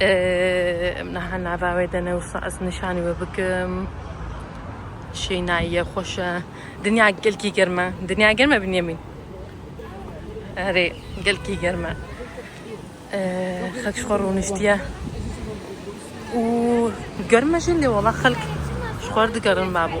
Em niha nava wê de ne wisa ez nîşanî we bikim. Şênayiye xweş e. Dinya gelkî germ e. Dinya germ e Binyamîn. Erê gelkî germ e. Xelk ji xwe rûniştiye. Û germ e jî lê wela xelk ji xwe digerin babo.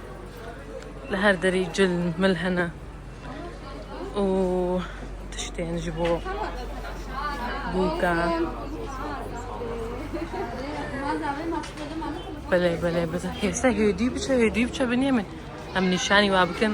Li her derî cil mil hene û tiştên ji bo bûka. Belê belê bi hêsa hêdî biçe hêdî biçe binê min em nîşanî wa bikin.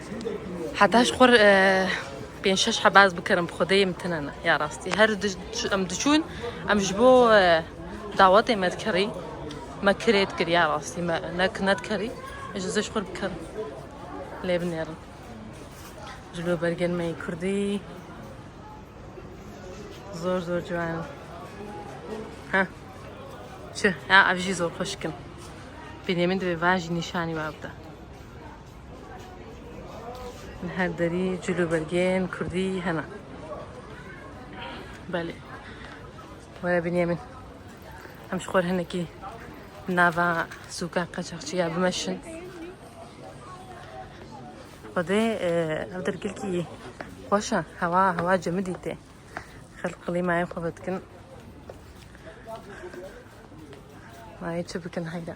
Heta ji xwe pênc şeş heba ez bikirim bi xwedê min tune ne ya rastî her em diçûn em ji bo dawetê me dikerî me kirê dikir ya rastî me ne ki nedikerî ji zê ji xwe bikirim lê binêrin ji bo bergên me yê kurdî zor zor ciwan ha çi ya ev jî zor xweşkin Bînêmin divê van jî nîşanî me bide Li her derî cil û belgeyên kurdî hene. Belê. Were biniyê min. Em ji xwe re hinekî nava sûka qeçaxçiya bimeşin. Xwedê e, ev dergilkî xweş e. Hewa hewa cemidî tê. Xelk qilîmayê xwe vedikin. Nayê çi bikin heyra.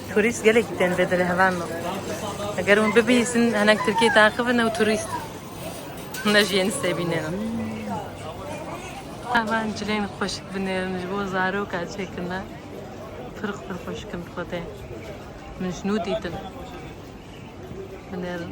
Turîst gelekî tên vê dilê heval min. Eger hûn bibihîzin hinek Tirkiyeyê taqibin ew turîst in. Ne jî yên sêbînêne. Heval cilên xweşik binêrin ji bo zarok a çêkin ne. Pirq pir xweşik in bi xwe tên. Min ji nû dîtin. Binêrin.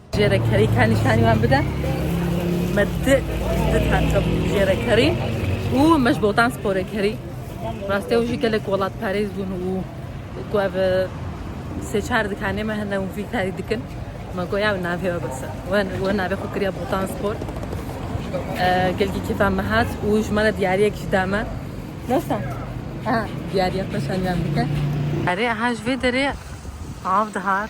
Jêrekerî ka nîşanî wan bide. Me di di tente jêrekerî û me ji botan sporê kerî. Rastê ew jî gelek welatparêz bûn û ku ev sê çar dikanê me hene û vî karî dikin. Me got ya navê we bise. We we navê xwe kiriya botan spor. Gelkî kêfa me hat û ji me re diyariyek jî da me. Nasa? Ha, diyariya xwe şaniyan bike. Erê eha ji vê derê av dihat.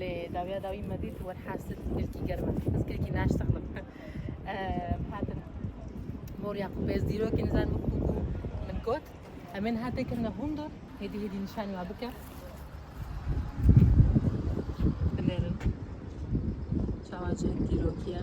Lê dawiya dawî me dît wer hersir kilkî germ e. Ez kilkî naştexlim. Hatin morya xwe pêz dîrokê nizan bû ku bû min got. Em ên hatê kirine hundu hêdî hêdî nîşanî me bike. Binêrin. Çawa çend dîrokî ye.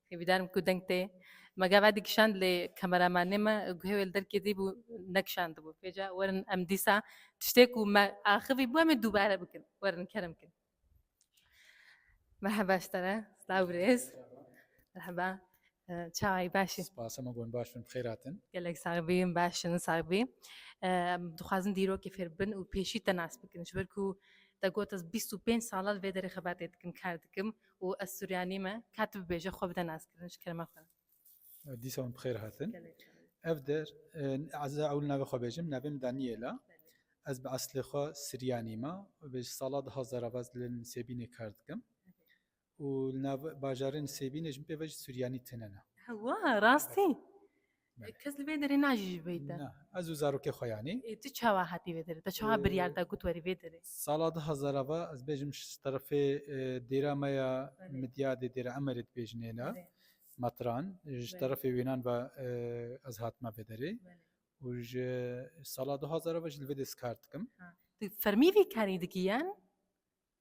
Hêvîdarim ku deng tê. Me gava dikişand lê kameramanê me guhê wê li derkê dî bû nekişandibû. Pêca werin em dîsa tiştê ku me axivî bû em ê dûbare bikin. Werin kerem kin. Merheba ji te re. Silav birêz. Merheba. Çawayî baş î? Spas hema gon baş bin. Bi xêr hatin. Gelek sax bî, em baş in. Sax bî. Em dixwazin dîrokê fêr bibin û pêşî te nas bikin. Ji ber ku te got ez bîst û pênc sal e li vê derê xebatê dikim, kar dikim û ez Suryanî me, ka tu bibêje xwe bide naskirin ji kerema xwe. Dîsa wan bi xêr hatin. Ev der ez ê ewil navê xwe bêjim, navê min Daniyêl e. Ez bi eslê xwe Suryanî me û vê ji sala du hezar a baz li Nisêbînê kar dikim û li nav bajarê Nisêbînê ji min pê ve jî Suryanî tune ne. Hewa, rastî? Kes li vê derê najî ji vê te. Na, ez û zarokê xwe yanî. Ê tu çawa hatî vê derê? Te çawa biryar da ku tu werî vê derê? Sala du hezar a ve ez bêjim ji terefê dêra me ya Midyadê Dêra Emerê dibêjin hêla metran ji terefê wênan ve ez hatime vê derê û ji sala du hezar a ve jî li vê dê kar dikim. Tu fermî vî karî dikî yan?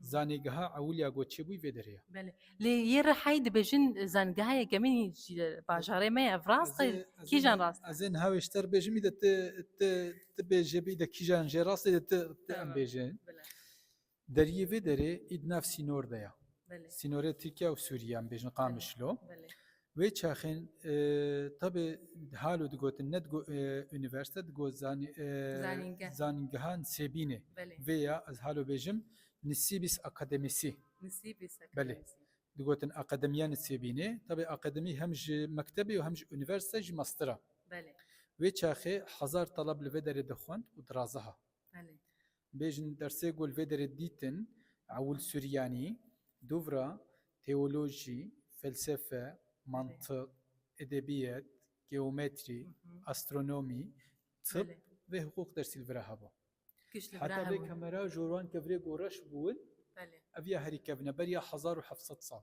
Zanîngeha ewilya ku çêbûy vê derê ye. Belê. Lê yê Rihayê dibêjin zanîngeha yekemîn jî li bajarê me ye. Ev rast e? Kîjan rast e? Ez ê niha wê ji te re bêjim îde tu tu tu bêje bi îde kîjan jê rast e îde tu tu em bêje. Bila. Deriyê vê derê î di nav sînor de ye. Belê. Sînorê Tirkiye û Sûriye em bêjin Qamişlo. Belê. Wê çaxên tevê halo digotin ne digo unîversîte digo zanîngehan Sêbînê. Vê ya ez halo bêjim nisîbîs akademîsî. Belê digotin akademiya nisêbînê tevê akademî hem ji mektebê û hem ji unîversîte jî mastira. Wê çaxê hezar taleb li vê derê dixwend û diraziha. Bêjin dersê ku li vê derê dîtin, Ewil Suryanî, Dûvra, Teolojî, Felsefe, Mantiq, Edebiyet, Geometrî, Astronomî, Tib ve Hiqûq dersî li vir e hebû. Heta vê kemera ji wan ke virê goreş bûn, ev ya herî kevin e, beriya hezar û heft sed sal.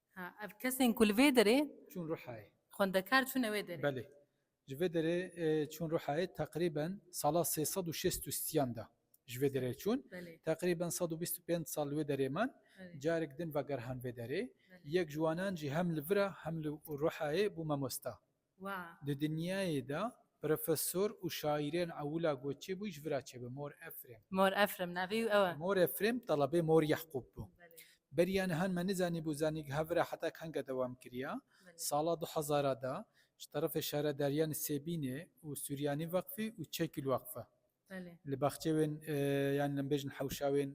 Ha ev kesên ku li vê derê Çûn Rihayê. xwendekar çûne wê derê. Belê. Ji vê derê çûn Rihayê teqrîben sala sê sed û şêst û siyan de ji vê derê çûn. Belê. Teqrîben sed û bîst û pênc sal li wê derê man. Belê. Carek din vegerhan vê derê. Belê. Yek ji wanan jî hem li vir e hem li Rihayê bû mamosta. Di dinyayê de profesor û şaîrên ewila goçê bû, ji vi re çêbe Mor Efrem. Mor Efrem navê û ew e. Mor Efrem talebê Mor Yehqûb bû. Beriya nihan me nizanîbû zanîngeha vi re heta kenge dewam kiriya. Sala du hezar a de ji terefê Şaredarîya Nisêbînê û Suryanî Weqfê û Çekîl Weqfe Li baxçê wên yan em bêjin hewşa wên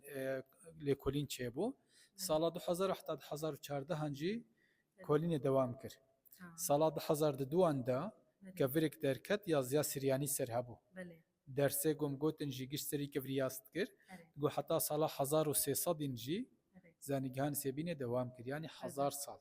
lêkolîn çêbû. Sala du hezar û heta du hezar û çardehan jî kolînê dewam kir. Sala du hezar du duwan de kevirêk derket ya Ziya Siryanî ser hebû. Dersê ku em gotin jî gişt serî kevirî yas dikir. Got heta sala hezar û sê sedîn jî zanîgehan Sêbînê dewam kir. Yanî hezar sal.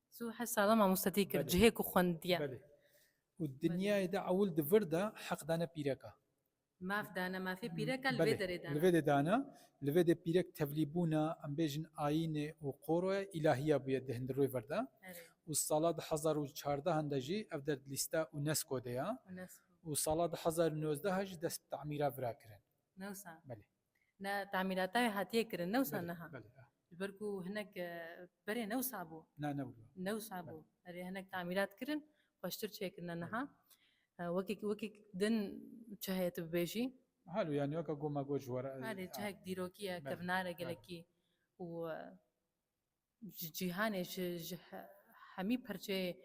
Tu her sala mamoste tê kir cihê ku xwendiye. Belê. Û dinyayê de ewil di vir de heq dane pîreka. Maf dane mafê pîreka li vê derê dana. Li vê de dana, li vê de pîrek tevlîbûna em bêjin ayînê û qoroya îlahiya bûye di Hindirroyê vir de. Û sala du hezar û çardehan de jî ev der di lîsta UNESCO de ya. UNESCO. Û sala du hezar û nozdeh jî dest bi tamîra vira kirin. Newsa. Belê. Ne tamîlata wê hatiye kirin ne wisa niha. Ji ber ku hinek berê ne wisa bû. Na ne bû. Ne wisa bû. Erê hinek tamîlat kirin xweştir çêkirine niha. Wekek wekek din çi heye tu bibêjî? Halo yani weka goma got ji were. Erê çihek dîrokî ye kevnare gelekî û ji cîhanê ji ji he- hemî perçeyê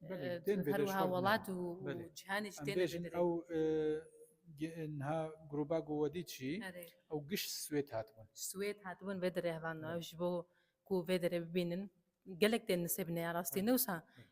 Belê, e, tên vê her de ji wiha xwe bine. welat û û Belê. cîhanê jî Em tên bêjin ew e, ge- niha groba ku we dît jî Erê. ew giş Swêd hatibûn. Swêd hatibûn vê derê hevalino. Ew ji bo ku vê derê bibînin gelek tên nisêbine ya rastî. Ne wisa Belê.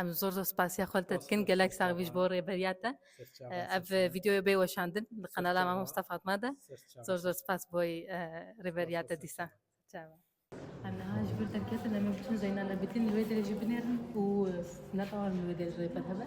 Em zor zor spasiya xwe li te dikin. Gelek sax bî ji bo rêberiya te. Ev vîdeoya bê weşandin li qenala Mama Musta Fatma de. Zor zor spas bo rêberiya te dîsa. Em niha ji vir derketin em ê biçin Zeynal Ebidîn li wê derê jî binêrin û ne tewam li wê derê jî rêber hebe.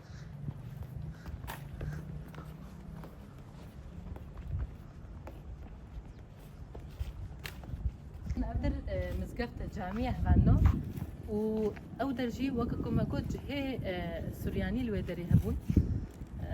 Nadir e, mizgefta camiye hevando û ew der jî weke ku me got cihê e, Suryanî li wê derê hebûn. E,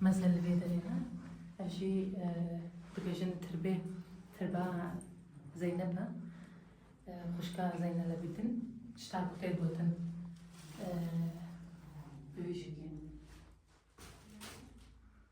Mezin li vê derê ne. Ev jî dibêjin tirbê, tirba Zeynep e. Xwişka Zeynel Ebîdin tişta ku tê gotin bi vî şekilî.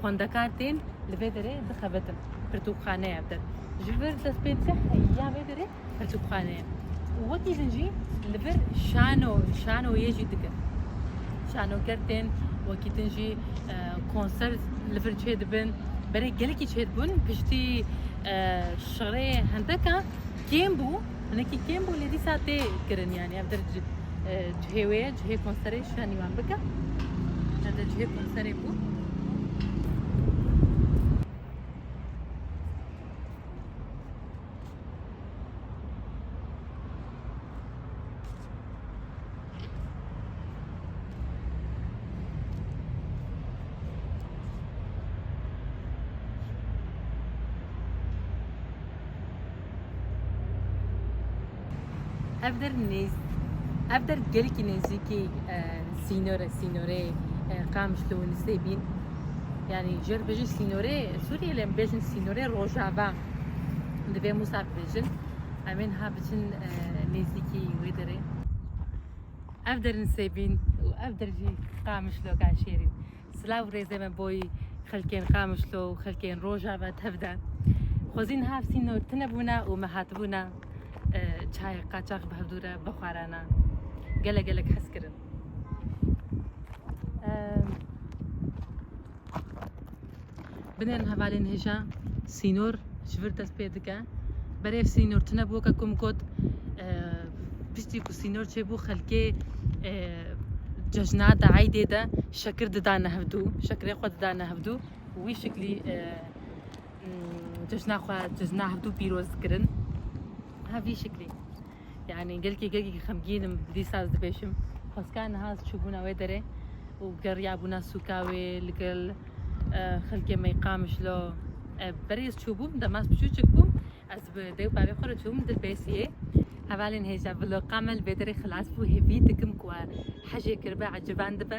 Xwendekar tên li vê derê dixebitin. Pirtûkxane ye vir. Ji vir dest pê dike heya vê derê pirtûkxane ye. Û wekî din jî li vir şano şanoyê jî dikin. Şanoker tên wekî din jî konser li vir çêdibin. Berê gelekî çêdibûn piştî şerê hendeka Kêm bû, hinekî kêm bû lê dîsa tê kirin yanî ev dir cihê wê ye, cihê konserê şûna nîvan bike. Ev de cihê konserê bû. ev der nêz ev der gelekî nêzîkî e, sînore sînorê e, qamiş li Winîsê bîn yani jer bêjin sînorê Sûriyê lê em bêjin sînorê rojava divê Musa bêjin Em ê niha biçin nêzîkî wê derê. Ev der in Sêbîn û ev der jî Qamişlo Kaşêrîn. Silav û rêzê me bo xelkên Qamişlo û xelkên Rojava tev de. Xwezî niha sînor tune bûne û me hatibûne çayê qaçax bi hevdû re bixwarana. Gelek gelek hez kirin. Binêrin hevalên hêja sînor ji vir dest pê dike. Berê ev sînor tune bi weke ku min got piştî ku sînor çêbû xelkê cejna de eydê de şekir didane hevdû şekirê xwe didane hevdû wî şeklî cejna xwe cejna hevdû pîroz kirin hevî şeklî Yanî gelkî gelkî xemgîn im dîsa ez dibêjim. Xweskan niha ez çûbûna wê derê û geriyabûna sûka wê li gel xelkê me Qamiş lo. Berê ez çûbûm dema ez piçûçik bûm ez bi dê û bavê xwe re çûbûm di Bêsiyê. Hevalên hêja vloga me li vê derê xilas bû. Hêvî dikim ku we hejê kiribe eciban dibe.